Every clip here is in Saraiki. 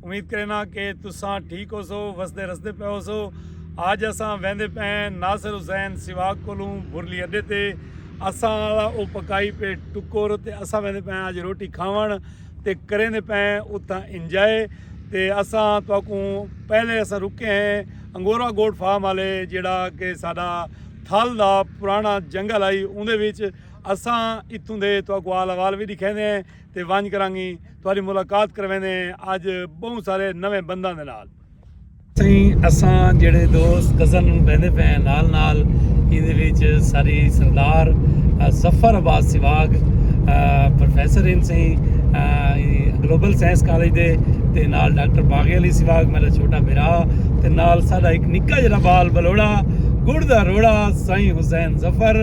امید کرینا کہ تساں ٹھیک ہوسو وسدے رسدے پئے ہوسو اج اساں ویندے پئے ہیں ناصر حسین سواگ کولوں برلی اڈے تے اساں والا او پکائی پے ٹکر تے اساں ویندے پئے ہیں اج روٹی کھاون تے کریندے پئے ہیں اتھاں انجوائے تے اساں تواکوں پہلے اساں رکے ہیں انگورا گولڈ فارم والے جیڑا کہ ساڈا تھل دا پرانا جنگل آئی اوندے وچ اساں اتھوں دے تواکوں آل احوال وی ڈکھیندے ہیں۔ تے ونج کراں گی تہاڈی ملاقات کرویندے ہیں اج بہوں سارے نویں بنداں دے نال۔ سائیں اساں جیڑھے دوست کزن بیندے پئے ہیں نال نال ایندے وچ ساری سردار ظفر عباس سواگ پروفیسر ہن سائیں گلوبل سائنس کالج دے تے نال ڈاکٹر باغی علی سواگ میڈا چھوٹا بھرا تے نال ساڈا ہک نکا جیڑھا بال بلوڑا گڑ دا روڑا سائیں حسین ظفر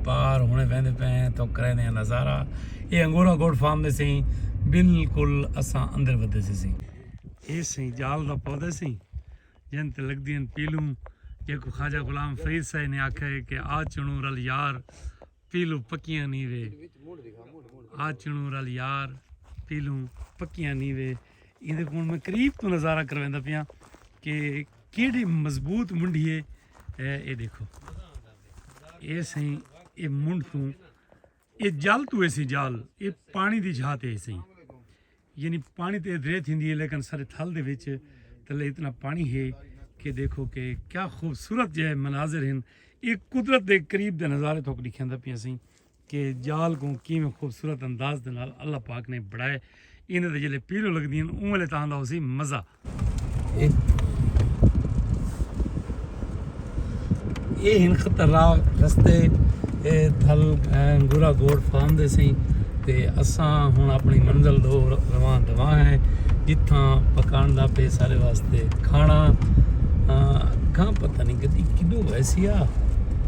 پار ہونے ویندے پئے ہیں تو کریندے ہیں نظارہ اے انگورا گوڈ فارم دے سیں بالکل اساں اندر ودے سے سیں اے سیں جال دا پودے سیں جن تے لگ دین پیلوں جے کو خواجہ غلام فرید سائے نے آکھا ہے کہ آ چنوں رل یار پیلو پکیاں نی وے آ چنوں رل یار پیلو پکیاں نی وے ایندے کون میں قریب تو نظارہ کرویندا پیاں کہ کیڑی مضبوط منڈی ہے اے دیکھو اے سہی اے منڈ تو اے جال تو ایسی جال اے پانی دی جھاتے ایسی یعنی پانی تے درے تھی دی ہے لیکن سارے تھل دے وچ تلے اتنا پانی ہے کہ دیکھو کہ کیا خوبصورت جے مناظر ہیں ایک قدرت دے قریب دے نظارے تو دکھیندا پیاں سہی کہ جال کوں کیویں خوبصورت انداز دے نال اللہ پاک نے بنڑائے ایندے تے جلے پیلو لگدی ہن اوں ویلے تاں دا ہوسی مزہ اے ہن خطرناک رستے اے تھل گورا گوڑ فارم دے سیں تے اساں ہن اپنی منزل دو رواں دواں ہیں جتھاں پکان دا پے سارے واسطے کھانا کھاں پتہ نہیں گدی کدو ویسی آ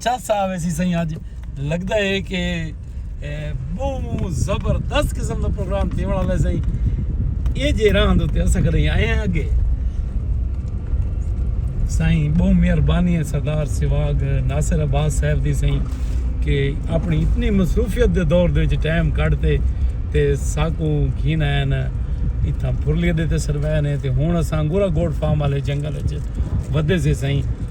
چس آ ویسی سائیں اج لگدا ہے کہ بہوں زبردست قسم دا پروگرام تھیون والا ہے سائیں اے جے راہ دے تے اسا کدے آئے ہیں اگے سائیں بہوں مہربانی ہے سردار سواگ ناصر عباس صاحب دی سائیں کہ اپنی اتنی مصروفیت دے دور دے وچ ٹائم کڈتے تے ساکو گھن آئے نا اتھاں پھرلی دے تے سروے نے تے ہن اساں گورا گوڈ فارم والے جنگل وچ ودے سے سائیں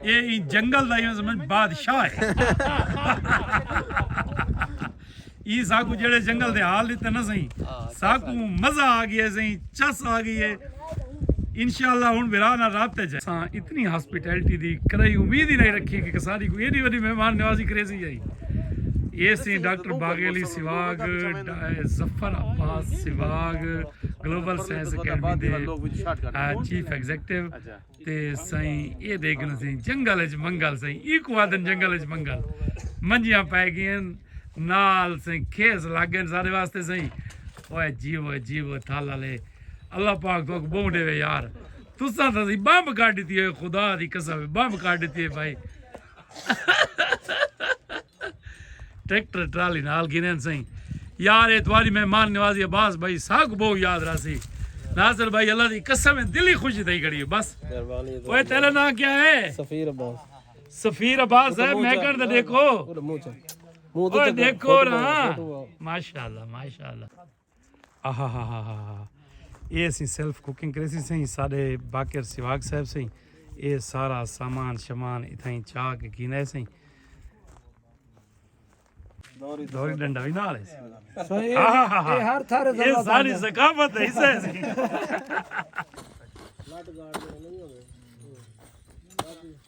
اے ایں جنگل دا عوض منجھ بادشاہ ہے ایں ساکوں جیڑھے جنگل دے حال ڈتے نہ سئیں ساکوں مزہ آ گیا سئیں چس آ گئی ہے انشاءاللہ ہن بھرا نال رابطے چ ساں اتنی ہاسپیٹلٹی دی کرائی امید ہی نہیں رکھی کہ کساری کو ایڈی وڈی مہمان نوازی کرے سی جائی اے سی ڈاکٹر باغی علی سواگ ظفر عباس سواگ گلوبل سائنس اکیڈمی دے چیف ایگزیکٹو تے سائیں اے دیکھن سائیں جنگل اچ منگل سائیں ای کو آدن جنگل اچ منگل منجیاں پائے گئین نال سائیں کھیس لگ گئین سارے واسطے سائیں اوے جیو جیو تھالا لے اللہ پاک تو کو بہوں ڈیوے یار تسا تھا سی بامب کاٹ دیتی ہوئے خدا دی قسم بامب کاٹ دیتی ہوئے بھائی ٹریکٹر ٹرالی نال گھنن سائیں یار اے تواڈی مہمان نوازی عباس بھائی ساکو بہو یاد راسی ناصر بھائی اللہ دی قسم ہے دلی خوشی تھئی کھڑی ہے بس مہربانی اوے تیرا نام کیا ہے سفیر عباس سفیر عباس ہے میں کر دے دیکھو منہ تے دیکھو نا ماشاءاللہ ماشاءاللہ آہاہاہاہاہا اے اسیں سیلف کوکنگ کریسی سئیں ساڈے باقر سواگ صاحب سئیں اے سارا سامان شمان اتھائیں چا کے گھینا ہے سئیں دوری ڈنڈا بھی نال ہے سئیں اے ہر تھارے اے ساری ثقافت ہے سئیں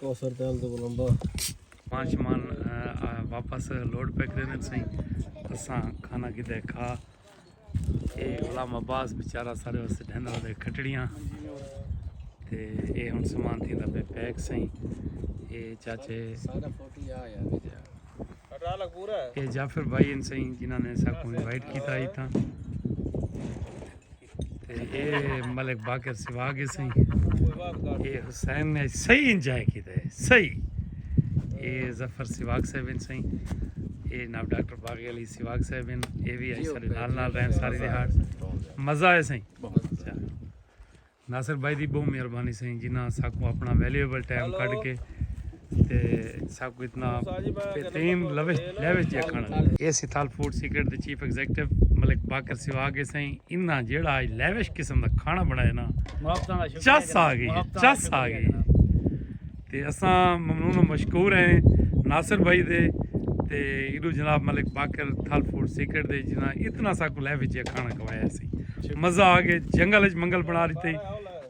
کوثر تیل تو لمبا سامان شمان واپس لوڈ پہ کرینے تسیں اساں کھانا کی دے کھا اے غلام عباس بیچارہ سارے واسطے ڈھن والے کھٹڑیاں تے اے ہن سامان تھی دا پہ پیک سیں اے چاچے سارا فوٹو یا یا اے جعفر بھائی ان سیں جنہاں نے ساکوں انوائٹ کیتا ہی تھا اے ملک باقر سوا گے سہی اے حسین نے صحیح انجوائے کیتا ہے صحیح اے ظفر سواگ صاحب ان سہی اے ناب ڈاکٹر باغی علی سواگ صاحب ان اے وی آئی سارے نال نال رہن ساری دیہاڑ مزہ ہے سہی ناصر بھائی دی بہت مہربانی سہی جنہاں ساکو اپنا ویلیوبل ٹائم کڈ کے تے سب کو اتنا بہترین لوش لیوش جے کھانا دے اے سی تھال فوڈ سیکرٹ دے چیف ایگزیکٹو ملک باکر سوا آگے سائیں انہا جیڑا آج لیوش قسم دا کھانا بنائے نا چس آگے چس آگے تے اساں ممنون و مشکور ہیں ناصر بھائی دے تے ایڈو جناب ملک باکر تھال فوڈ سیکرٹ دے جنا اتنا سا کو لیوش جے کھانا کھوایا سی مزہ آگے جنگل اچ منگل بنا دیتے